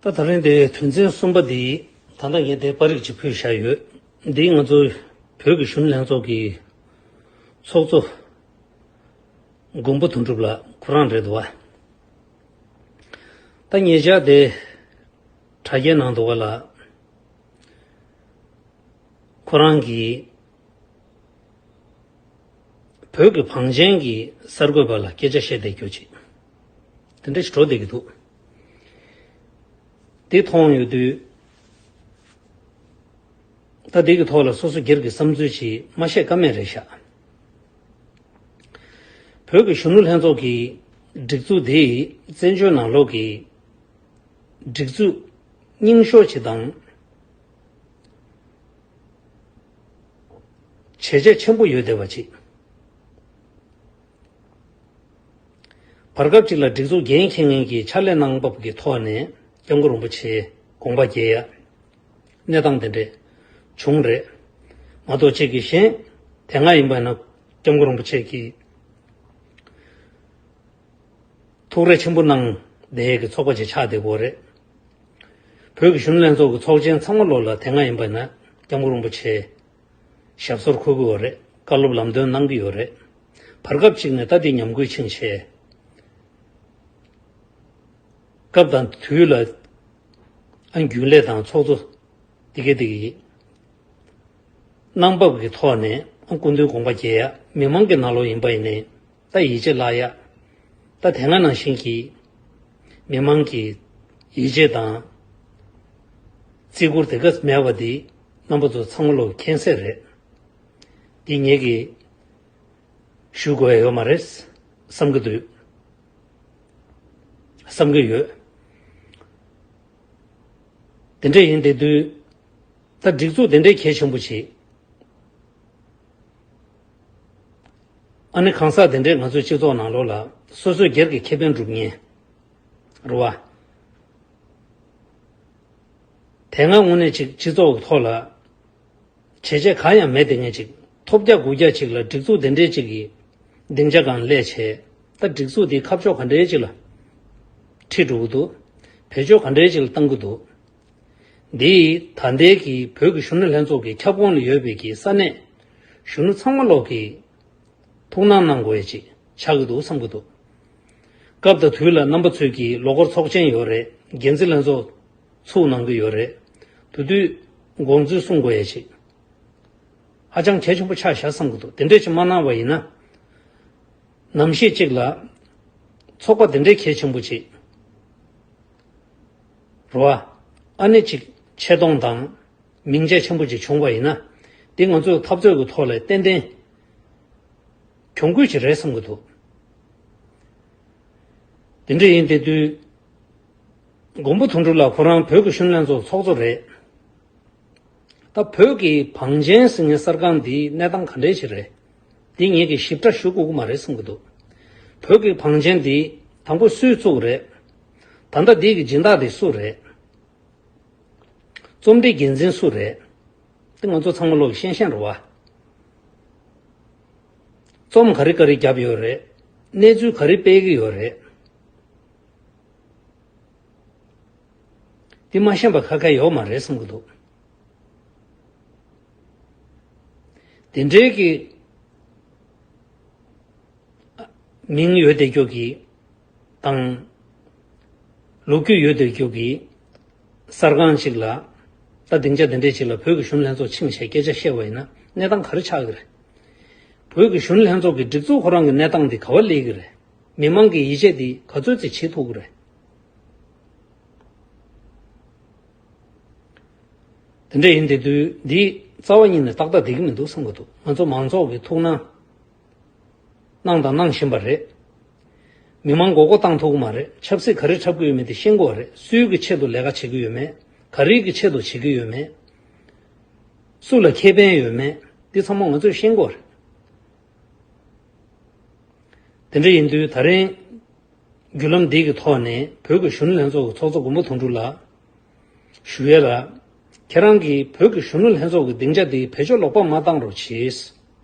ད་ད་རིང་འདིར་དོན་ཚན་གསུམ་པ་འདི་ད་ལྟ་ངས་འདིར་པར་རིས་གཅིག་ཕུལ་བཞག་ཡོད། འདི་ང་ཚོ་བོད་ཀྱི་གཞུང་ལྷན་ཚོགས་ཀྱི་ཚོགས་གཙོ་མགོན་པོ་དོན་གྲུབ་ལགས་ཁོ་རང་རེད་འདུག་བ། ད་ངེད་ཅག་འདིར་དྲ་རྒྱའི་ནང་འདུག་བ་ལ། ཁོ་རང་གིས་བོད་ཀྱི་བང་ཆེན་གྱི་གསར་འགོད་པ་ལ་སྐད་ཆ་བཤད་བསྡད་རྒྱུ་གཅིག། དེ་འདྲ་ཞིག་འགྲོ་བསྡད་ཀྱི་འདུག་དེ་མཐོང་ཡོད་དུས། ད་ལྡེ་གི་ཐོག་ལ་སོ་སོ་སྒེར་གྱི་བསམ་ཚུལ་ཞིག་མ་བཤད་ཀ་མེད་རེད་ཤག། བོད་ཀྱི་གཞོན་ནུ་ལྷན་ཚོགས་ཀྱི་སྒྲིག་འཛུགས་དེ་བཙན་བྱོལ་ནང་ལོག་གི་སྒྲིག་འཛུགས་རྙིང་ཤོ་ཆེ་དང། བྱས་རྗེས་ཆེན་པོ་ཡོད་བསྡད་པ་ཅིག། བར་སྐབས་གཅིག་ལ་སྒྲིག་འཛུགས་འགན་འཁྱེར་མཁན་གྱིས་ཕྱག་ལས་གནང་བབ་ཀྱི་ཐོག་ནས་སྐྱབས་མགོན་རིན་པོ་ཆེའི་དགོངས་པ་བརྒྱད་ཡ། གནས་སྟངས་དེ་འདྲས་བྱུང་རེད་མ་གཏོགས་གཅིག་གིས་གཞན་དེ་སྔ་ཡིན་པ་ན་སྐྱབས་མགོན་རིན་པོ་ཆེ་གིས་ཐུགས་རེ་ཆེན་པོ་གནང་བསྡད་ཀྱི་ཚོགས་པ་ཅིག་ཆགས་བསྡད་གོ་རེད། བོད་ཀྱི་གཞུང་ལྷན་ཚོགས་ཀྱི་ཚོགས་ཆེན་ཚང་མ་བློ་ལ་དེ་སྔ་ཡིན་པ་ན་སྐྱབས་མགོན་རིན་པོ་ཆེའི་ཞབས་སོར་འཁོད་དགོས་བ་རེད་བཀའ་སློབ་ལམ་སྟོན་གནང་གི་ཡོད་རེད། བར་སྐབས་གཅིག་ནས་ལྟ་འདི་ཉམས་རྒུད་ཕྱིན་ཆེ། སྐབས་དང་དུས་ལ་ཨ་རྒྱུན་ལས་དང་ཚོགས་གཙོ་འདི་སྐད་འདི་གི། གནང་བབ་ཀྱི་ཐོག་ནས་ཨ་སྐུ་མདུན་དགོངས་པ་རྒྱས་ཡ་མི་མང་གི་ནང་ལོག་ཡིན་པ་ཡིན་ནའི་ལྟ་ཡིད་ཆེས་བརླག་ཡ། ལྟ་དེ་སྔ་ནང་བཞིན་གྱི་མི་མང་གི་ཡིད་ཆེས་དང་བརྩི་བཀུར་དེ་ག་མེད་བ་འདི། རྣམ་པ་ཚོ་ཚང་མ་ལོག་མཁྱེན་གསལ་རེད། འདི་ངེད་ཀྱིས་ཞུ་དགོས་ཡོད་མ་རེད་བསམ་གྱི་འདུག་བསམ་གྱི་ཡོད། དེ་འདྲ་ཡིན་དེ་དུས་ད་སྒྲིག་འཛུགས་དེ་འདྲའི་གལ་ཆེན་པོ་ཞིག་ཨ་ནི་གང་ཟག་དེ་འདྲས་ང་ཚོའི་སྤྱི་ཚོགས་ནང་ལོག་ལ་སོ་སོས་སྒེར་གྱི་ཁེ་ཕན་སྒྲུབ་ཉེན་རོ། དེ་སྔ་དངོས་གནས་ཅིག་སྤྱི་ཚོགས་ཀྱི་ཐོག་ལ་བྱས་རྗེས་གང་ཡང་མེད་དེ་སྔའི་ཅིག་ཐོབ་བརྒྱ་དགུ་བརྒྱ་ཅིག་ལ་སྒྲིག་འཛུགས་དེ་འདྲའི་ཅིག་གི་སྡིངས་ཆ་གང་ལས་བྱས་ད་སྒྲིག་འཛུགས་དེའི་ཁ་ཕྱོགས་ག་འདྲའི་ཅིག་ལ་ཁྲིད་འགྲོ་གི་འདུག་བེད་སྤྱོད་ག་འདྲའི་ཅིག་ལ་བཏང་གི་འདུག་འདིས་ད་ལྟའི་གི་བོད་ཀྱི་གཞོན་ནུ་ལྷན་ཚོགས་ཀྱི་ཁྱབ་ཁོངས་ལ་ཡོད་པའི་གི་ས་གནས་གཞོན་ནུ་ཚང་མ་ལོག་གི། ཐུགས་སྣང་གནང་དགོས་ཡ་ཅིག་ཆགས་ཀྱི་འདུག་བསམ་གྱི་འདུག། སྐབས་དང་དུས་ལ་རྣམ་པ་ཚོད་ཀྱིས་ལོ་འཁོར་ཚོགས་ཆེན་ཡོད་རེད་འགན་འཛིན་ལྷན་ཚོགས་ཚུགས་གནང་གི་ཡོད་རེད་དུ་དུས་དགོངས་ཚུལ་གསུང་དགོས་ཡ་ཅིག་ཧ་ཅང་གལ་ཆེན་པོ་ཆགས་བཞག་བསམ་གྱི་འདུག་དེ་འདྲས་ཅིག་མ་གནང་བ་ཡིན་ན་ནམ་ཞིག་ཅིག་ལ་ཚོགས་པ་དེ་འདྲས་གལ་ཆེན་པོ་ཅིག་རུ་ཨ་ནི་ཅིག་ཆེ་མཐོང་དང། མིང་ཆད་ཆེན་པོ་ཅིག་བྱུང་བ་ཡིན་ན། འདི་ང་ཚོས་འཐབ་རྩོད་ཀྱི་ཐོག་ལས་ཏན་ཏན་གྱོང་རྒུད་ཅིག་རེད་བསམ་གྱི་འདུག་དེ་འདྲ་ཡིན་དེ་དུས་མགོན་པོ་དོན་གྲུབ་ལགས་ཁོ་རང་བོད་ཀྱི་གཞོན་ལྷན་ཚོགས་ཚོགས་གཙོ་རེད། ད་བོད་ཀྱི་བང་ཆེན་ཟིང་ངེ་གསར་ཁང་འདིའི་གནས་སྟངས་ག་འདྲའི་ཆེད་རེད། འདི་ངེད་ཀྱིས་ཞིབ་ཕྲ་ཞུ་དགོས་ཀྱི་མ་རེད་བསམ་གྱི་འདུག་བོད་ཀྱི་བང་ཆེན་འདི་དང་པོ་སུས་བཙུགས་རེད། ད་ལྟ་འདི་གྱི་སྦྱིན་བདག་དེ་སུ་རེད། རྩོམ་སྒྲིག་འགན་འཛིན་སུ་རེད། འདི་ང་ཚོ་ཚང་མ་བློ་ཡིས་ཤེས་ཤེས་རེད་བ། རྩོམ་ག་རེ་ག་རེ་བརྒྱབ་ཡོད་རེད། གནས་ཚུལ་ག་རེ་སྤེལ་གྱི་ཡོད་རེད། འདི་མ་ཤེས་པ་ཁ་ཁ་ཡོད་མ་རེད་བསམ་གྱི་འདུག། འདི་འདྲའི་གི། མིང་ཡོད་བདེ་སྐྱོ་གི། དང། ལུག་ཁྱུ་ཡོད་དུས་རྒྱུག་གི། གསར་ཁང་ཅིག་ལ། ད་སྡིངས་ཆ་དེ་འདྲས་ཅིག་ལ་བོད་ཀྱི་གཞུང་ལྷན་ཚོགས་ཆིངས་ཞེས་སྐད་ཆ་བཤད་པ་ཡིན་ན་གནས་སྟངས་ག་རེ་ཆགས་ཀྱི་རེད། བོད་ཀྱི་གཞུང་ལྷན་ཚོགས་ཀྱི་སྒྲིག་འཛུགས་ཁོ་རང་གི་གནས་སྟངས་དེ་ག་བ་ལེགས་ཀྱི་རེད། མི་མང་གི་ཡིད་ཆེས་དེ་ག་ཚོད་ཅིག་བྱེད་ཐུབ་ཀྱི་རེད། དེ་འདྲས་ཡིན་དེ་དུས་འདི་རྩ་བ་གཉིས་ནས་ཏག་ཏག་བསྡད་ཀྱི་མི་འདུག་བསམ་གྱི་འདུག་ང་ཚོ་མང་ཚོགས་ཀྱི་ཐུགས་སྣང་གནང་དང་གནང་བཞིན་པ་རེད། མི་དམངས་མགོ་སྐོར་བཏང་ཐུབ་གི་མ་རེད་ཆབ་སྲིད་ག་རེ་འཁྲབ་གི་ཡོད་མེད་དེ་ཤེས་མགོ་བ་རེད་སུའི་གི་ཆེད་དུ་ལས་ཀ་བྱེད་གི་ཡོད་མེད་ག་རེའི་གི་ཆེད་དུ་བྱེད་གི་ཡོད་མེད་སུ་ལ་ཁེ་ཕན་ཡོད་མེད་འདི་ཚང་མ་ང་ཚོས་ཤེས་མགོ་རེད། དེ་འདྲ་ཡིན་དུས་ད་རེང་བརྒྱུད་ལམ་འདི་གི་ཐོག་ནས་བོད་གི་གཞོན་ནུ་ལྷན་ཚོགས་གི་ཚོགས་གཙོ་མགོན་པོ་དོན་གྲུབ་ལགས། ཞུ་ཡལ་ལགས། ཁྱེད་རང་གིས་བོད་གི་གཞོན་ནུ་ལྷན་ཚོགས་ཀྱི་སྡིངས་ཆ་འདི་བེད་སྤྱོད་ལོག་པ་མ་བཏང་རོགས་བྱེས།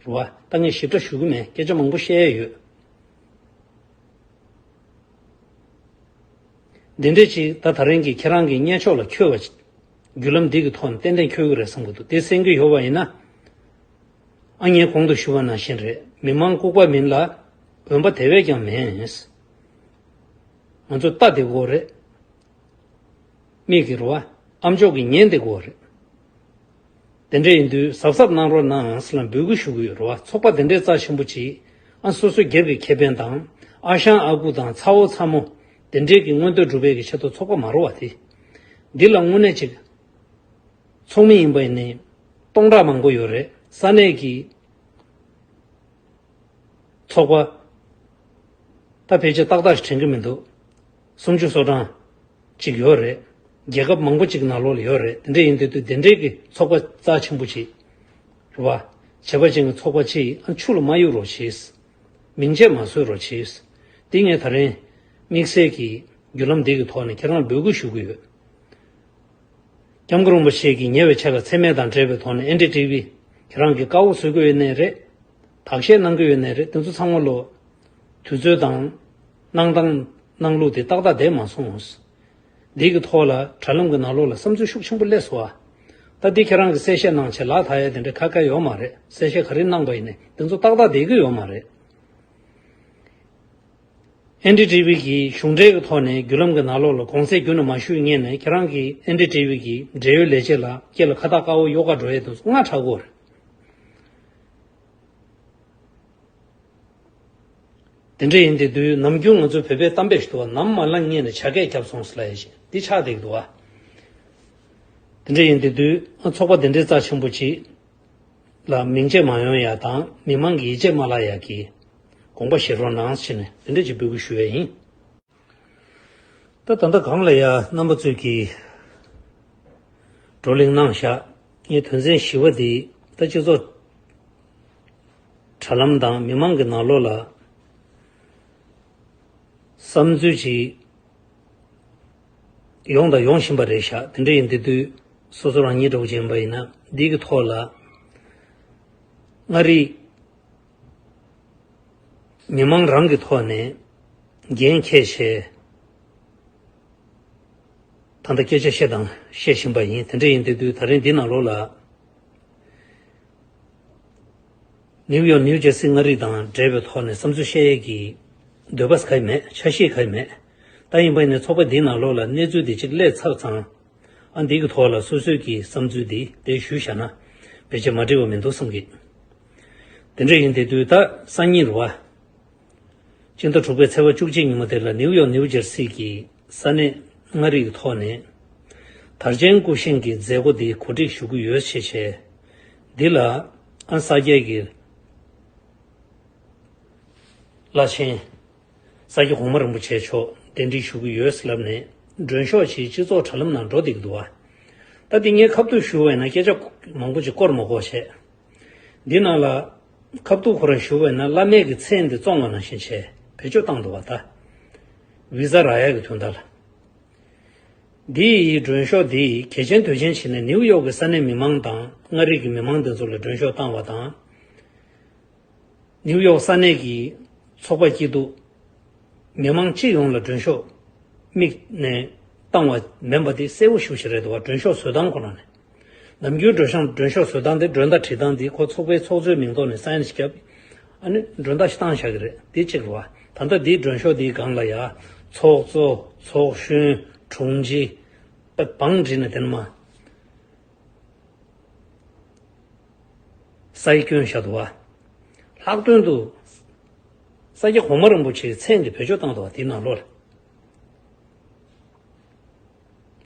རེ་བ་ལྟ་ངས་ཞིབ་ཕྲ་ཞུ་གི་མེད་སྐད་ཆ་མང་པོ་བཤད་ཡས་ཡོད། འདི་འདྲས་ཅིག་ད་ད་རིང་གི་ཁྱེད་རང་གི་བརྙན་ཕྱོགས་ལ་འཁྱོལ་བ་ཅིག་བརྒྱུད་ལམ་འདི་གི་ཐོག་ནས་ཏན་ཏན་འཁྱོལ་གི་རེད་བསམ་གི་འདུག་དེ་སེམས་གི་ཡོ་བ་ཡིན་ན། ཨ་མྱེས་གོང་དུ་ཞུ་བ་ནང་བཞིན་རེད་མི་མང་ལྐུག་པ་མིན་ལ་འོན་པ་དེ་བས་ཀྱང་མེད། ང་ཚོ་རྟ་འདེགས་དགོས་རེད། མིག་གི་རུ་བ་ཨ་མཆོག་གི་ཉན་འདེགས་དགོས་རེད། དེ་འདྲ་ཡིན་དུས་གཟབ་གཟབ་གནང་རོགས་གནང་ངས་ལ་འབོད་སྐུལ་ཞུ་གི་ཡོད་རོགས་ཚོགས་པ་དེ་འདྲའི་རྩ་ཆེན་པོ་གཅིག་ཨ་སོ་སོ་རྒྱབ་ཀྱི་ཁེ་ཕན་དང་ཨ་ཞང་ཨ་ཁུ་དང་ཚ་བོ་ཚ་མོ་དེ་འདྲའི་གི་མངོན་འདོད་སྒྲུབ་པའི་གི་ཆེད་དུ་ཚོགས་པ་མ་རོ་བ་དེ་འདི་ལ་དངོས་གནས་ཅིག་ཚོགས་མི་ཡིན་པ་ནི་སྟོང་ཕྲག་མང་པོ་ཡོད་རེད་ས་གནས་གི་ཚོགས་པ་ད་ཕལ་ཆེར་ཏག་ཏག་ཞིག་དྲན་གི་མི་འདུག་སུམ་ཅུ་སོ་གྲངས་ཅིག་ཡོད་རེད། རྒྱལ་ཁབ་མང་པོ་ཅིག་ནག་ལོག་ལ་ཡོད་རེད་དེ་འདྲ་ཡིན་དུས་དུས་དེ་འདྲའི་གི་ཚོགས་པ་རྩ་ཆེན་པོ་ཅིག་རེད་བ། བྱས་པ་ཅན་གི་ཚོགས་པ་ཅིག་ཡིན་ཨ་འཆུག་ལ་མ་གཡུག་རོགས་བྱས། མིང་ཆད་མ་བཟོས་རོགས་བྱས། འདི་ངས་ད་རེན། དམིགས་བསལ་གིས་བརྒྱུད་ལམ་འདི་གི་ཐོག་ནས་ཁྱེད་རང་ལ་འབོད་སྐུལ་ཞུ་གི་ཡོད། སྐྱབས་མགོན་རིན་པོ་ཆེ་གིས་ཉེ་བའི་ཆ་ལ་འཚེ་མེད་དང་འབྲེལ་བའི་ཐོག་ནས NDTV ཁྱེད་རང་གིས་བཀའ་འོག་བཟོས་གི་ཡོད་ནའི་རེད། དག་བཤད་གནང་གི་ཡོད་ནའི་རེད་དེ་ཚོ་ཚང་མ་ལོ། དུས་ཚོད་དང། གནང་དང། གནང་ལུགས་དེ་ཏག་ཏག་བསྡད་མ་སོང། འདི་གི་ཐོག་ལ་དྲ་ལམ་གྱི་ནང་ལོག་ལ་བསམ་ཚུལ་ཤུགས་ཆེན་པོ་སླེབས་སོང། ད་འདི་ཁྱེད་རང་གིས་གསལ་བཤད་གནང་ཆེད་ལག་ད་ཡ་དེ་འདྲ་ཁ་སྐད་ཡོད་མ་རེད་གསལ་བཤད་ག་རེ་གནང་པ་ཡིན་ནས་འདི་ཚོ་ཏག་ཏག་བསྡད་ཀྱི་ཡོད་མ་རེད། NDTV གྱིས་གཞུང་འབྲེལ་གྱི་ཐོག་ནས་བརྒྱུད་ལམ་གྱི་ནང་ལོག་ལ་དགོངས་ཚད་བརྒྱུད་ནས་མ་ཞུས་ངེས་ནས་ཁྱེད་རང་གི NDTV གྱི་འབྲེལ་ཡོད་ལས་བྱེད་ལ་སྐྱེ་ལ་ཁ་བཏགས་དཀར་བོ་གཡོག་ཁ་འགྲོ་ཡས་དེ་ཚོ་སྔ་དྲག་གོ་རེད། དེ་འདྲ་ཡིན་དེ་དུས་ནམ་རྒྱུན་ང་ཚོ་བོད་པས་གཏམ་དཔེ་ཞིག་འདུག་བ་ནམ་མ་ལངས་གཉིད་ནས་བྱ་སྐད་རྒྱབ་སོང་ཟེར་ལ་ཡ་བཞིན་འདི་ཆགས་བསྡད་ཀྱི་འདུག་བ། དེ་འདྲ་ཡིན་དེ་དུས་ཚོགས་པ་དེ་འདྲའི་རྩ་ཆེན་པོ་གཅིག་ལ་མིང་ཆད་མ་ཡོང་ཡ་དང་མི་མང་གི་ཡིད་ཆད་མ་བརླག་ཡ་གི་དགོངས་པ་བཞེས་རོགས་གནང་ཟེར་ནས་འདི་འདྲ་གཅིག་འབོད་སྐུལ་ཞུ་བས་ཡིན། ད་ད་ལྟ་གང་ལ་ཡང་རྣམ་པ་ཚོད་ཀྱིས་བགྲོ་གླེང་གནང་བཞག་ངས་དོན་ཚན་བཞི་བ་འདི་ད་སྤྱི་ཚོགས་དྲ་ལམ་དང་མི་མང་གི་ནང་ལོགས་ལ་བསམ་ཚུལ་ཅིག་ཡོང་དང་ཡོང་བཞིན་པ་རེད་བཞག་དེ་འདྲ་ཡིན་དེ་དུས་སོ་སོ་རང་ཉིད་གྲོགས་ཅན་པ་ཡིན་ན་འདི་གི་ཐོག་ལ་མངའ་རིས། མི་མང་རང་གི་ཐོག་ནས་འགན་ཁྱེད་བཞེས། ད་ལྟ་སྐད་ཆ་བཤད་དང་བཤད་བཞིན་པ་ཡིན་དེ་འདྲ་ཡིན་དུས་དུས་ད་རིང་འདི་ནང་ལོགས་ལ། ནིའུ་ཡོག་ནིའུ་ཇེར་སི་མངའ་རིས་དང་འབྲེལ་བའི་ཐོག་ནས་བསམ་ཚུལ་བཤད་ཡས་ཀྱི་འདོད་པ་ག་ཡི་མེད་ཆ་ཤེས་ག་ཡི་མེད་ད་ཡིན་པ་ཡིན་ནའི་ཚོགས་པ་འདིའི་ནང་ལོགས་ལ་གནས་ཚུལ་འདི་གཅིག་ལས་ཚར་ཙང་ཨ་འདི་གི་ཐོག་ལ་སོ་སོས་ཀྱི་བསམ་ཚུལ་འདི་དེ་ཞུ་བཞག་ན་བེད་སྤྱད་མ་འགྲིག་བ་མི་འདུག་བསམ་གི། དེ་འདྲ་ཡིན་ཏེ་དུས་རྟགས་སང་ཉིན་རུ་བ། སྤྱི་ཟླ་དྲུག་པའི་ཚེས་བ་བཅུ་གཅིག་ཉིན་མོ་དེ་ལ་ནིའུ་ཡོག་ནིའུ་ཇེར་སི་གྱི་ས་གནས་མངའ་རིས་ཀྱི་ཐོག་ནས། དར་ཅན་སྐུ་བཞེངས་ཀྱི་མཛད་སྒོ་འདི་གོ་སྒྲིག་ཞུ་གི་ཡོད་ཞེས་བཤད། འདི་ལ་ཨན་ས་སྐྱའི་གྱི་བླ་ཆེན། ས་སྐྱ་གོང་མ་རིན་པོ་ཆེ་མཆོག་གདན་འདྲེན་ཞུ་གི་ཡོད་ཟེར་ལབ་ནས་མགྲོན་ཤོག་ཅིག་སྤྱི་ཚོགས་དྲ་ལམ་ནང་འགྲོ་བསྡད་ཀྱི་འདུག་བ། ད་འདི་ངའི་ཁ་བརྡུར་ཞུ་བས་ན་སྐད་ཆ་མང་པོ་ཅིག་བསྐོར་མ་བསྐོར་བཤད། འདི་ནང་ལ། ཁ་བཏུག་ཁོ་ར་བཞུགས་པས་ན་བླ་མེད་ཀྱི་ཚེ་འདི་བཙོང་བ་ནང་བཞིན་བྱས་བེད་སྤྱོད་བཏང་འདུག་བ་ད། བི་ཛ་ར་ཡ་གི་དུས་འདའ་ལ། འདི་ཡི་མགྲོན་ཤོག་འདི་ཡི་གལ་ཆེན་དོད་ཆེན་བྱས་ནས་ནིའུ་ཡོག་གི་ས་གནས་མི་མང་དང་མངའ་རིས་ཀྱི་མི་མང་འདི་ཚོ་ལ་མགྲོན་ཤོག་བཏང་བ་དང། ནིའུ་ཡོག་ས་གནས་ཀྱི་ཚོགས་པ་སྐྱིད་སྡུག་མི་མང་སྤྱི་ཡོངས་ལ་མགྲོན་ཤོག་དམིགས་ནས་བཏང་བ་མེན་པ་འདི་གསལ་བོ་བཞུགས་བཞིན་རེད་འདུག་བ་མགྲོན་ཤོག་བཟོས་སྟངས་ཁོ་ན་ནི། ནམ་རྒྱུན་མགྲོན་ཤང་མགྲོན་ཤོག་བཟོས་སྟངས་དེ་མགྲོན་བདག་ཁྲིད་སྟངས་དེ་ཁོ་ཚོགས་པའི་ཚོགས་གཙོའི་མིང་ཐོག་ནས་སཱ་ཡན་ཞིག་བརྒྱབ། ཨ་ནི་མགྲོན་བདག་ཤི་སྟངས་བཞག་གི་རེད་དེ་གཅིག་རེད། ད་ལྟ་དེའི་མགྲོན་ཤོག་དེའི་སྒང་ལ་ཡ། ཚོགས་གཙོ། ཚོགས་གཞོན། དྲུང་ཆེ། པད་འབངས་བྲིས་ནས་དེ་ནི་མ། སཱི་སྐྱོན་བཞག་འདུག་བ། ལྷག་དོན་དུ། ས་སྐྱ་གོང་མ་རིན་པོ་ཆེའི་མཚན་གྱི་བོད་ཆོས་བཏང་འདུག་བ་དེའི་ནང་ལོ།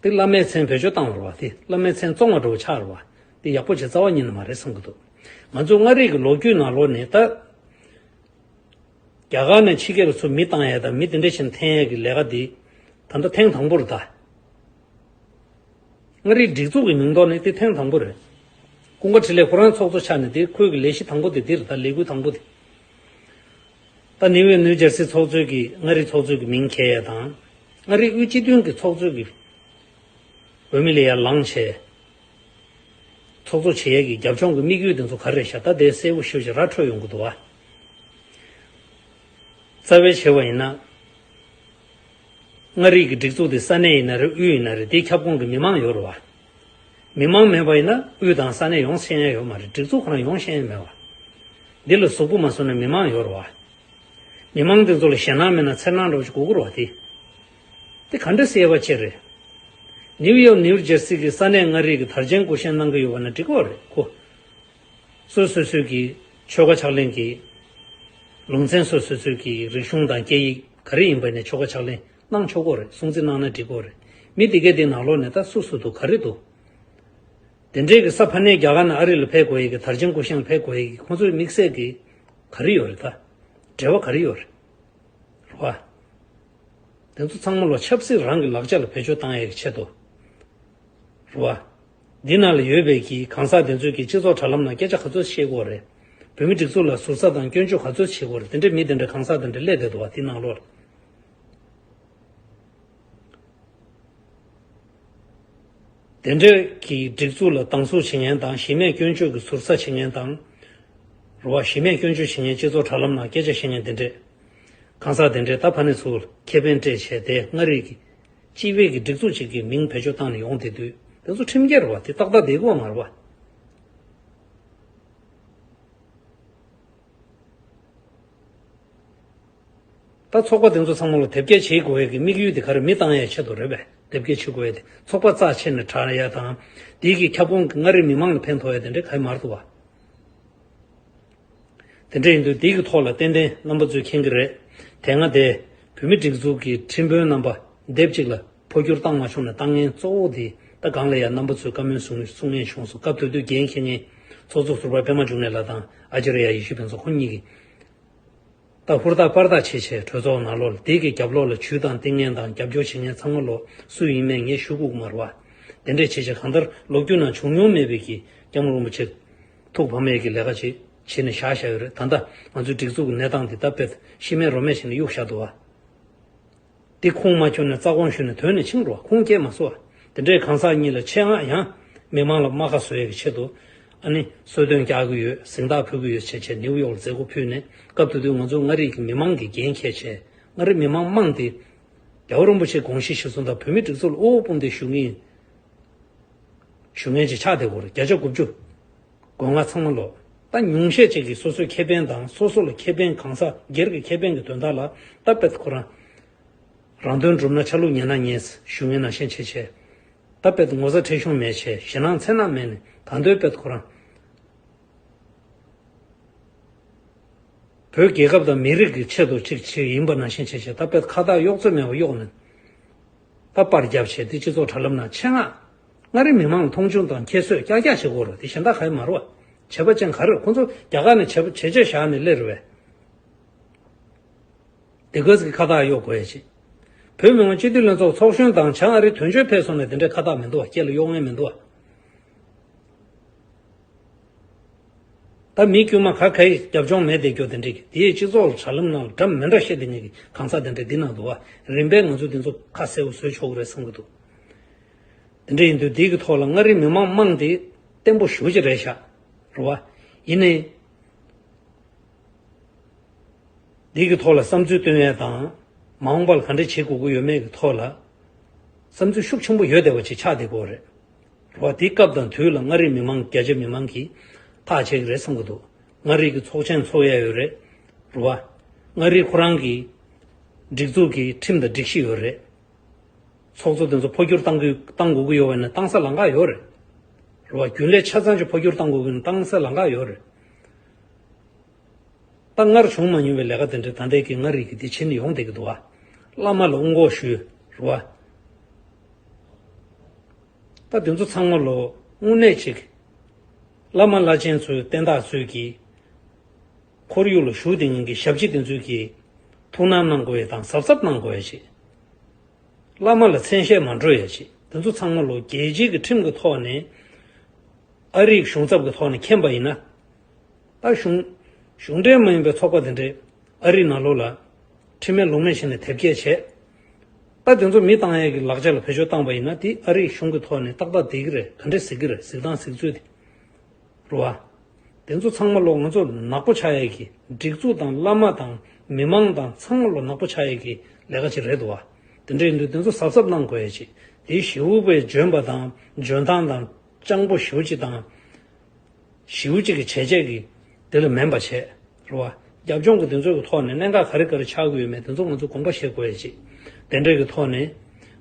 འདི་བླ་མའི་མཚན་བོད་ཆོས་བཏང་བར་བ་དེ་བླ་མའི་མཚན་བཙོང་བར་འགྲོ་བ་ཆགས་ར་བ་འདི་ཡག་པོ་བྱེད་རྩ་བ་ཉིད་ནི་མ་རེད་བསམ་གི་འདུག་ང་ཚོའི་མངའ་རིས་ཀྱི་ལོ་རྒྱུས་ནང་ལོ་ནས་ད་རྒྱ་གར་ནས་ཕྱི་རྒྱལ་ལ་ཚུར་མི་བཏང་ཡས་དང་མི་དེ་འདྲ་ཞིག་འཐེན་ཡས་ཀྱི་ལས་ཀ་འདི་ད་ལྟ་ཐེངས་དང་པོར་ད་མངའ་རིས་སྒྲིག་འཛུགས་ཀྱི་མིང་ཐོག་ནས་འདི་ཐེངས་དང་པོ་རེད་ཀུན་དགའ་ཁྲི་ལས་ཁོ་རང་ཚོགས་གཙོ་ཆགས་ནས་འདི་ཁོས་ཀྱི་ལས་གཞི་དང་པོ་དེ་འདིར་ད་ལས་འགུལ་དང་པོ་དེ་ཏཱ་ནི་ཝེ་ནུའུ་ཇར་སི་ཚོགས་གཙོས་ཀྱི་མངའ་རིས་ཚོགས་གཙོས་ཀྱི་མིང་གྱེས་ཡ་དང། མངའ་རིས་དབུས་སྤྱི་མཐུན་གྱི་ཚོགས་གཙོས་ཀྱི་ཝེ་མི་ལི་ཡ་ལང་ཆེ། ཚོགས་གཙོ་བྱེད་ཡ་ཀྱི་རྒྱབ་ལྗོངས་ཀྱི་དམིགས་ཡུལ་དེ་ཚོ་ག་རེ་རེད་ཞག་ད་དེ་གསལ་བོ་ཤོད་ཅིག་ར་འཕྲོད་ཡོང་གི་འདུག་ཨ། རྩ་བའི་ཆེ་བ་ཡིན་ན། མངའ་རིས་ཀྱི་སྒྲིག་འཛུགས་དེ་ས་གནས་ཡིན་ན་རེད་དབུས་ཡིན་ན་རེད་དེའི་ཁྱབ་ཁོངས་ཀྱི་མི་མང་ཡོད་རུང་བ། མི་མང་མེད་པ་ཡིན་ན་དབུས་དང་ས་གནས་ཡོངས་ཤེས་ཡན་ཡོད་མ་རེད་སྒྲིག་འཛུགས་ཁོ་རང་ཡོངས་ཤེས་ཡན་མེད་བ། འདི་ལ་གཟུགས་པོ་མ་བཟུང་ན་མི་མང་ཡོད་རུ་བ། མི་མང་དེ་ཚོ་ལ་ཞེད་སྣང་མེད་ན་འཚེར་སྣང་འགྲོ་བ་ཅིག་གུ་གུར་བ་དེ། དེ་ག་འདྲ་སེ་བ་ཅིག་རེད། ནིའུ་ཡོག་ནིའུ་རྗེར་སི་གི་ས་གནས་མངའ་རིས་ཀྱི་དར་ཆེན་སྐུ་བཞེངས་གནང་གི་ཡོད་བ་ན་འགྲིག་བ་རེད་གོ། སོས་སོས་སོས་ཀྱི་ཆོལ་ཁ་ཕྱག་ལེན་གྱི་ལུང་ཚན་སོས་སོས་སོས་ཀྱི་རིག་གཞུང་དང་སྐད་ཡིག་ག་རེ་ཡིན་པ་ནས་ཆོལ་ཁ་ཕྱག་ལེན། གནང་ཆོག་གོ་རེད་སྲུང་བརྩི་གནང་ན་འགྲིག་གོ་རེད། མི་དེ་གས་དེ་ནང་ལོག་ནས་ད་སུ་སུ་འདུག་ག་རེ་འདུག། དེ་འདྲས་ཀྱི་ས་ཕ་ནས་རྒྱ་གར་ནས་ཨ་རི་ལ་ཕེད་དགོས་ཡས་ཀྱི་དར་ཆེན་སྐུ་ཞང་ཕེད་དགོས་ཡས་ཀྱི་ཁོང་ཚོའི་དམིགས་བསལ་གྱི། ག་རེ་ཡོད་རེད་ད། འབྲེལ་བ་ག་རེ་ཡོད་རེད། རེད་བ། དེ་ཚོ་ཚང་མ་ལོ་ཆབ་སྲིད་རང་གི་ལག་ཆ་ལ་བེད་སྤྱོད་བཏང་ཡས་ཀྱི་ཆེད་དུ། རེད་བ། འདི་ནང་ལ་ཡོད་པའི་ཀྱི་གང་ཟག་དེ་ཚོས་ཀྱི་སྤྱི་ཚོགས་དྲ་ལམ་ནང་སྐད་ཆ་ག་ཚོད་བཤད་གོ་རེད། བོད་མི་སྒྲིག་འཛུགས་ལ་ཟུར་ཟ་དང་སྐྱོན་བརྗོད་ག་ཚོད་བྱེད་གོ་རེད་དེ་འདྲས་མི་དེ་འདྲས་གང་ཟག་དེ་འདྲས་སླད་དེ་འདུག་བ་དེ་ནང་ལོག་རེད། དེ་འབྲེལ་གྱི་སྒྲིག་འཛུགས་ལ་སྡང་ཟུག་བྱེད་མཁན་དང་གཞི་མེད་སྐྱོན་བརྗོད་ཀྱི་ཟུར་ཟ་བྱེད་མཁན་དང། རུ་བ་གཞི་མེད་སྐྱོན་བརྗོད་བྱེད་མཁན་སྤྱི་ཚོགས་དྲ་ལམ་ནང་སྐད་ཆ་བཤད་མཁན་དེ་འདྲས། གང་ཟག་དེ་འདྲས་ད་ཕ་ནི་ཚུལ་ཁེ་ཕན་འབྲས་བྱས་ཏེ་མངའ་རིས་ཀྱི། སྤྱི་བེད་ཀྱི་སྒྲིག་འཛུགས་ཅིག་གི་མིང་བེད་སྤྱོད་བཏང་ནས་ཡོང་དེ་དུས་དེ་ཚོ་ཁྲིམས་འགལ་རུ་བ་དེ་ཏག་ཏག་དེ་གོ་མ་རུ་བ། ད་ཚོགས་པ་དེ་ཚོ་ཚང་མ་ལ་དེབ་སྐྱེལ་བྱེད་དགོས་ཡས་ཀྱི་དམིགས་ཡུལ་དེ་ག་རེ་མི་བཏང་ཡས་ཆེད་དུ་རེད་པས་དེབ་སྐྱེལ་བྱེད་དགོས་ཡས་དེ་ཚོགས་པ་རྩ་ཆེ་ནས་དྲག་ཡས་དང། དེ་ཡས་ཀྱི་ཁྱབ་ཁོངས་ཀྱི་མངའ་རིས་མི་མང་ལ་ཕན་ཐོག་ཡས་དེ་འདྲས་ག་ཡས་མར་འདུག་བ། དེ་འདྲས་ཡིན་དུས་དེ་ཡས་ཀྱི་ཐོག་ལ་ཏན་ཏན་རྣམ་པ་ཚོས་མཁྱེན་གྱི་རེད། དེ་སྔ་དེ་བོད་མི་སྒྲིག་འཛུགས་ཀྱི་ཁྲིམས་དཔོན་རྣམ་པ་དེབ་གཅིག་ལ་འཕོ་འགྱུར་བཏང་མ་བྱུང་ན་བཏང་ངན་གཙོ་བོ་དེ་ད་གང་ལ་ཡ་རྣམ་པ་ཚོས་བཀའ་མོལ་ཟུང་གསུང་ངན་བྱུང་སོང་སྐབས་དུས་དུས་རྒྱན་མཁྱེན་ངན་ཚོགས་གཙོ་ཟུར་པ་པད་མ་འབྱུང་གནས་ལགས་དང་ཨ་ཅར་ཡ་ཡེ་ཤུ་ཕན་ཚོགས་ཁོ་གཉིས་ཀྱིས། ཏག་ཧུར་ཏག་པར་ཐག་ཆད་ཆད་གྲོས་ཚོགས་ནང་ལོ་ལྡེག་གི་རྒྱབ་ལོག་ལ་བྱུས་དང་ལྟས་ངན་དང་རྒྱབ་སྐྱོར་བྱེད་མཁན་ཚང་མ་ལོ་སུ་ཡིན་མེད་ངས་ཞུ་གུག་མར་བ། དེ་འདྲས་བྱེད་བྱེད་གང་ལྟར་ལོ་རྒྱུས་ནང་བྱུང་མྱོང་མེད་པའི་གི་རྐྱང་རིན་པོ་ཆེ། ཐུགས་ཕམ་མེད་ཀྱི་ལས་ཀ་ཅིག་བྱེད་ནས་བཞག་བཞག་ཡོད་རེད་ད་ལྟ་ང་ཚོའི་སྒྲིག་འཛུགས་གི་གནས་སྟངས་འདི་ལྟ་བེད་ཤེས་མེད་རོ་མེད་བྱས་ནས་གཡུག་བཞག་འདུག་བ། དེ་ཁུངས་མ་འཁྱོལ་ན་རྩ་དགོངས་ཞུས་ནས་དོན་ནི་འཆིང་འགྲོ་ཁུངས་སྐྱེལ་མ་བཟོ་བ། དེ་འདྲའི་གང་ཟག་གཉིས་ལ་ཆེད་མངགས་ཡང། མི་མང་ལ་རྨ་ཁ་བཟོ་ཡས་ཀྱི་ཆེད་དུ། ཨ་ནི། གསོལ་སྟོན་རྒྱག་གི་ཡོད་གཟེངས་རྟགས་ཕུལ་གི་ཡོད་བྱས་བྱས་ནིའུ་ཡོག་ལ་མཛད་སྒོ་ཕུལ་ནས་སྐབས་དེ་དུས་ང་ཚོ་མངའ་རིས་ཀྱི་མི་མང་གིས་འགན་ཁྱད་བྱས། མངའ་རིས་མི་མང་དམངས་དེ། རྒྱ་བོད་རིན་པོ་ཆེའི་དགོངས་གཞི་གཞི་བཟུང་དང་བོད་མི་སྒྲིག་འཛུགས་ལ་དབུལ་བོ་དཔུང་སྡེ་ཞུ་ངེས་ཡིན། ཞུ་ངེས་ཀྱི་ཕྱག་དེབ་སྐོར་བརྒྱ་ཆ་དགུ་བཅུ། སྒོ་ང་ཚང་མ་ལོག་ལྟ་ཉུང་ཤས་ཅིག་གིས་སོ་སོའི་ཁེ་ཕན་དང་སོ་སོ་ལ་ཁེ་ཕན་གང་ཟག་སྒེར་གྱི་ཁེ་ཕན་གྱི་དོན་དག་ལ་ལྟ་བལྟ་ཁོ་རང་རང་དོན་འགྲུབ་ན་ཆ་ལུགས་ཉན་ན་ཉན་ཞུ་ངན་ན་ཞེན་ཆེ་ཆེ་ལྟ་བལྟ་ངོ་ཚ་ཁྲེལ་གཞུང་མེད་ཆེ་ཞེ་ནང་ཚན་ནག་མེད་ནས་གང་འདོད་བལྟ་ཁོ་རང། བོད་རྒྱལ་ཁབ་དང་མི་རིགས་ཀྱི་ཆེད་དུ་ཅིག་ཅིག་ཡིན་པ་ན་ཞེན་ཆེ་ཆེ་ལྟ་བལྟ་ཁ་བཏགས་གཡོག་རྩོད་མེད་པ་གཡོག་ནས་ལྟ་བར་རྒྱབ་བྱས་ཏེ་སྤྱི་ཚོགས་དྲ་ལམ་ན་ཆེད་མངགས། མངའ་རིས་མི་མང་ལ་མཐོང་ཆུང་དང་ཁྱད་གསོད་ཀྱག་ཀྱག་བྱེད་དགོས་རུང་དེ་གཞན་དག་ག་ཡི་མ་རུ་བ། བྱེད་པ་ཅན་ག་རེར་ཁོ་ཚོ་རྒྱ་གར་ནས་བྱེད་བྱེད་བྱེད་བཞག་ནས་སླེ་རུ་བས། དེ་གོས་ཀྱི་ཁ་བཏགས་གཡོག་དགོས་ཡ་བྱེད། བོད་མི་མང་སྤྱི་འཐུས་ལྷན་ཚོགས་ཚོགས་གཞོན་དང་བྱང་ཨ་རིའི་དོན་གཅོད་ཕེབས་སོང་ནས་དེ་འདྲའི་ཁ་བཏགས་མི་འདུག་བ་སྐྱེ་ལ་གཡོག་ངེས་མི་འདུག་བ། ད་མི་དཀྱུས་མ་ག་ག་ཡི་རྒྱབ་ལྗོངས་མེད་བསྡད་རྒྱུ་དེ་འདྲས་ཀྱི་དེའི་སྤྱི་ཚོགས་ལ་དྲ་ལམ་ནང་ལ་དྲ་མི་འདྲ་བཤད་དེ་ཉིད་ཀྱི་གང་ཟག་དེ་འདྲས་འདི་ནང་དུ་བ་རིམ་པས་ང་ཚོ་འདི་ཚོ་ཁ་གསལ་བོ་བཟོས་ཆོག་གི་རེད་བསམ་གྱི་འདུག། འདི་འདྲའི་འདུས་སྡེ་གི་ཐོག་ལ་མངའ་རིས་མི་དམངས་དམངས་དེ་བརྟན་པོ་ཞུ་ཅི་རེད་ཤག་རོ་བ། ཡིན་ནའི། འདི་གི་ཐོག་ལ་བསམ་ཚུལ་བཏོན་ཡས་དང། མ་འོངས་པ་ལ་ག་འདྲ་བྱེད་དགོས་དགོས་ཡོད་མེད་གི་ཐོག་ལ། བསམ་ཚུལ་ཤུགས་ཆེན་པོ་ཡོད་བསྡད་པ་ཆེ་ཆགས་བསྡད་དགོས་རེད་རོ་བ། དེ་སྐབས་དང་དུས་ལ་མངའ་རིས་མི་དམངས་རྒྱ་ཆེ་མི་དམངས་ཀྱིས་ཐག་བཅད་གི་རེད་བསམ་གི་འདུག་མངའ་རིས་ཀྱི་ཚོགས་ཆེན་འཚོགས་ཡས་ཡོད་རེད་རོ་བ། མངའ་རིས་ཁོ་རང་གི། སྒྲིག་འཛུགས་ཀྱི་ཁྲིམས་དང་སྒྲིག་གཞི་ཡོད་རེད། ཚོགས་གཙོ་དེ་ཚོ་འཕོ་འགྱུར་གཏང་གཏང་དགོས་གི་ཡོད་བ་ནི་གཏང་ས་ལང་ཀ་ཡོད་རེད། རེད་བ། རྒྱུན་ལས་ཆ་ཚང་ཅིག་འཕོ་འགྱུར་གཏང་དགོས་གི་ནི་གཏང་ས་ལང་ཀ་ཡོད་རེད། ད་སྔར་བྱུང་མ་མྱོང་བའི་ལས་ཀ་དེ་འདྲའི་ད་འདས་ཀི་ང་རིག་གི་འདི་ཕྱི་ནས་ཡོང་བསྡད་གི་འདུག་བ། བླ་མ་ལ་དབུ་འགོག་ཞུ། རེད་བ། ད་དེ་ཚོ་ཚང་མ་ལོ་དངུལ་གནས་ཅིག། བླ་མ་བླ་ཆེན་ཚོའི་བསྟན་བདག་ཚོས་གི། ཁོར་ཡུག་ལ་ཞུགས་ཏེ་ཉིན་གྱི་ཞབས་ཕྱི་བདེན་ཚུལ་གྱིས་ཐུགས་སྣང་གནང་དགོས་ཡས་དང་གཟབ་གཟབ་གནང་དགོས་ཡས་བྱེད། བླ་མ་ལ་མཚན་བཤད་མ་འགྲོ་ཡས་བྱེད་འདི་ཚོ་ཚང་མ་ལོ་རྒྱལ་སྤྱི་གི་ཁྲིམས་གི་ཐོག་ནས། ཨ་རིག་གཞུང་ཚབ་གི་ཐོག་ནས་མཁྱེན་པ་ཡིན་ན། ད་གཞུང། གཞུང་འབྲེལ་མ་ཡིན་པའི་ཚོགས་པ་དེ་འདྲས་ཨ་རིག་ནང་ལོག་ལ། ཁྲིམས་མེད་ལུགས་མེད་བྱས་ནས་དེབ་སྐྱེལ་བྱས། ད་དེ་ཚོ་མི་བཏང་ཡས་གི་ལག་ཆ་ལ་བེད་སྤྱོད་བཏང་པ་ཡིན་ན་དེ་ཨ་རིག་གཞུང་གི་ཐོག་ནས་ཏག་ཏག་བསྡད་གི་རེད་ག་འདྲས་ཟེར་གི་རེད་གཟིགས་སྟངས་གཟིགས་ཚུལ་དེ། རུ་བ། དེ་ཚོ་ཚང་མ་ལོ་ང་ཚོ་ནག་པོ་ཆགས་ཡས་ཀྱི་སྒྲིག་འཛུགས་དང་བླ་མ་དང་མི་མང་དང་ཚང་མ་ལོ་ནག་པོ་ཆགས་ཡས་ཀྱི་ལས་ཀ་ཅིག་རེད་འདུག་བ། དེ་འདྲ་ཡིན་དུས་དེ་ཚོ་གཟབ་གཟབ་གནང་དགོས་ཡས་ཅིག་དེའི་བཞིའུ་པའི་འཇོན་པ་དང་འཇོན་ཐང་དང་སྤྱང་པོ་བཞིའུ་གཅིག་དང་བཞིའུ་གཅིག་གི་བྱས་རྗེས་ཀྱིས་དེ་ལ་མེན་པ་བྱས། རེད། རྒྱབ་ལྗོངས་ཀྱི་དེ་ཚོ་གི་ཐོག་ནས་གནད་འགག་ག་རེ་ག་རེ་ཆགས་ཀྱི་ཡོད་མེད་དེ་ཚོ་ང་ཚོས་དགོངས་པ་བཞེས་དགོས་ཡ་མཆིས། དེ་འབྲེལ་གྱི་ཐོག་ནས།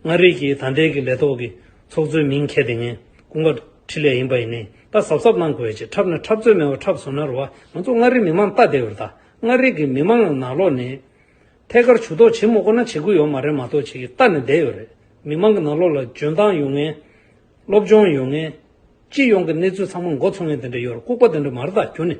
མངའ་རིས་ཀྱི་ད་ལྟའི་གི་ལས་ཐོག་གི་ཚོགས་གཙོའི་མིང་ཁྱེར་དེ་ངས་སྐུ་མགར་འཕྲིན་ལས་ཡིན་པ་ཡིན་ནའི་ད་གཟབ་གཟབ་གནང་དགོས་ཡ་མཆིས་འཁྲབ་ན་འཁྲབ་རྩོད་མེད་པ་འཁྲབ་བཟོ་ན་རེད་བ་ང་ཚོ་མངའ་རིས་མི་མང་ལྟ་བདེ་བ་རེད་ད་མངའ་རིས་ཀྱི་མི་མང་ལ་ནག་ལོག་ནས། ཐད་ཀར་བྱུས་གཏོགས་བྱེད་མོ་དགོ་ན་བྱེད་དགོས་ཡོད་མ་རེད་མ་གཏོགས་བྱེད་ཀྱི་ལྟ་ནས་བསྡད་ཡོད་རེད་མི་མང་གི་ནག་ལོག་ལ་འཇོན་ཐང་ཡོད་ངེས། སློབ་སྦྱོང་ཡོད་ངེས། སྤྱི་ཡོངས་གི་གནས་ཚུལ་ཚང་མ་མགོ་ཚུགས་ངེས་དེ་འདྲ་ཡོད་རེད་ལྐུགས་པ་དེ་འདྲ་མ་རེད་ད་གྱུར་ནས།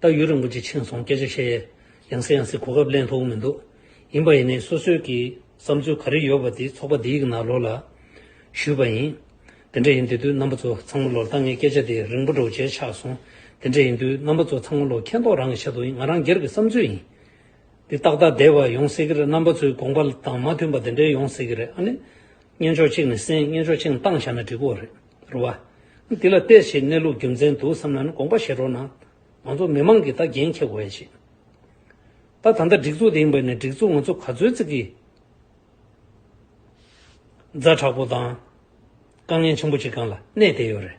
ད་ཡུན་རིང་པོ་ཅིག་ཕྱིན་སོང་སྐད་ཆ་བཤད་ཡ་ཡང་སྲིད་ཡང་སྲིད་གོ་སྐབས་གླེང་ཐུབ་མི་འདུག་ཡིན་པ་ཡིན་ནའི་སོ་སོའི་གི་བསམ་ཚུལ་ག་རེ་ཡོད་པ་དེ་ཚོགས་པ་འདིའི་གི་ནང་ལོག་ལ་ཞུས་པ་ཡིན་དེ་འདྲ་ཡིན་དུས་དུས་རྣམ་པ་ཚོ་ཚང་མ་ལོག་ད་ངས་སྐད་ཆ་དེ་རིང་པོ་འགྲོ་བྱས་ཆགས་སོང་དེ་འདྲ་ཡིན་དུས་རྣམ་པ་ཚོ་ཚང་མ་ལོག་མཁྱེན་རྟོགས་རང་གི་ཆེད་དུ་ཡིན་ང་རང་སྒེར་གི་བསམ་ཚུལ་ཡིན་འདི་ཏག་ཏག་བསྡད་པ་ཡོང་སྲིད་གི་རེད་རྣམ་པ་ཚོའི་དགོངས་པ་དང་མ་མཐུན་པ་དེ་འདྲའི་ཡོང་སྲིད་གི་རེད་ཨ་ནི་གཉེན་ཕྱོགས་གཅིག་ནས་གསན་གཉེན་ཕྱོགས་གཅིག་ནས་བཏང་བཞག་ན་འགྲིག་གོ་རེད། རུ་བ། འདི་ལ་བལྟས་ཞེས་གནས་ལུགས་རྒྱུ་མཚན་དུ་བསམ་ན་ནི་དགོངས་པ་བཞེས་རོགས་གནང། ང་ཚོ་མི་མང་གིས་ད་འགན་འཁྱེར་དགོས་ཤིང། ད་ད་ལྟ་སྒྲིག་འཛུགས་དེ་ཡིན་པས་ནི་སྒྲིག་འཛུགས་ང་ཚོ་ག་ཚོད་བརྩི་གི། རྫ་དྲག་པོ་དང། དཀའ་ངལ་ཆེན་པོ་གཅིག་གང་ལ་གནས་བསྡད་ཡོད་རེད།